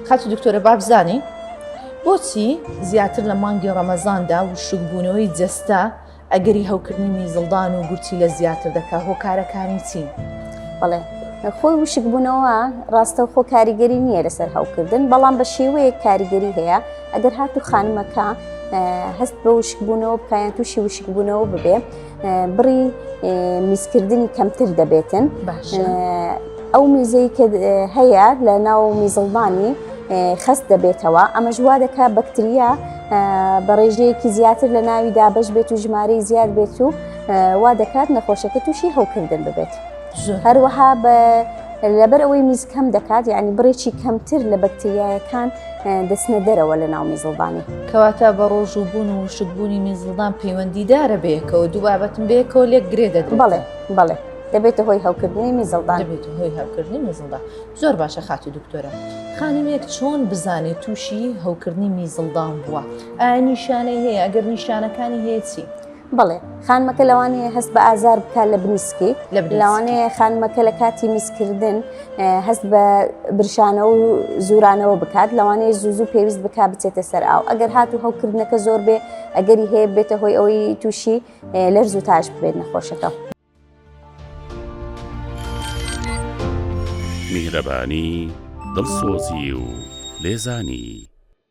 خاتو دکتۆرە بابزانین بۆچی زیاتر لە مانگی ڕەمەزاندا وشکبوونەوەی جەستە ئەگەری هەوکردنی میزڵدان و گورچی لە زیاتر دەکا هۆکارەکانی چین بڵێ خۆی وشکبوونەوە ڕاستە خۆ کاریگەری نییە لەسەر هەوکردن بەڵام بە شێوەیە کاریگەری هەیە ئەگەر هاتو خانمەکە هەست بە وشکبوونەوە بکایان تووشی وشکبوونەوە ببێ بڕی میزکردنی کەمتر دەبێتن ئەو میزەی کە هەیە لە ناو میزڵبانی خەست دەبێتەوە ئەمەش وا دەکا بەکتریا بە ڕێژەیەکی زیاتر لە ناوی دابش بێت و ژمارەی زیاد بێت و وا دەکات نەخۆشەکە تووشی هەوکردن ببێت هەروەها بە لەبەر ئەوەی میز کەم دەکات یعنی بڕێکی کەمتر لە بەکتریایەکان دەچنە دەرەوە لە ناو میزڵدانی. کەواتە بە ڕۆژ و بوون و وشکبوونی میزڵدان پەیوەندیدارە بەیەکەوە دوو بابەتم بەیەکەوە لێک گرێ دەدرێت بەڵێ بەڵێ دەبێتە هۆی هەوکردنی میزڵدان دەبێت هۆی هەوکردنی میزڵدا زۆر باشە خاتو دکتۆرە خانمێک چۆن بزانێت تووشی هەوکردنی میزڵدان بووە ئایا نیشانەی هەیە ئەگەر نیشانەکانی هەیە چی؟ بەڵێ خانمەکە لەوانەیە هەست بە ئازار بکات لە بنی سکی لەوانەیە خانمەکە لە کاتی میسکردن هەست بە برشانە و زورانەوە بکات لەوانەیە زوزو پێویست بک بچێتە سەر ئاو ئەگەر هات و هەوکردنەکە زۆر بێ ئەگەری هەیە بێتە هۆی ئەوەی تووشی لەرز و تاش بێت نەخۆشەکە. میهرەبانی دڵسۆزی و لێزانی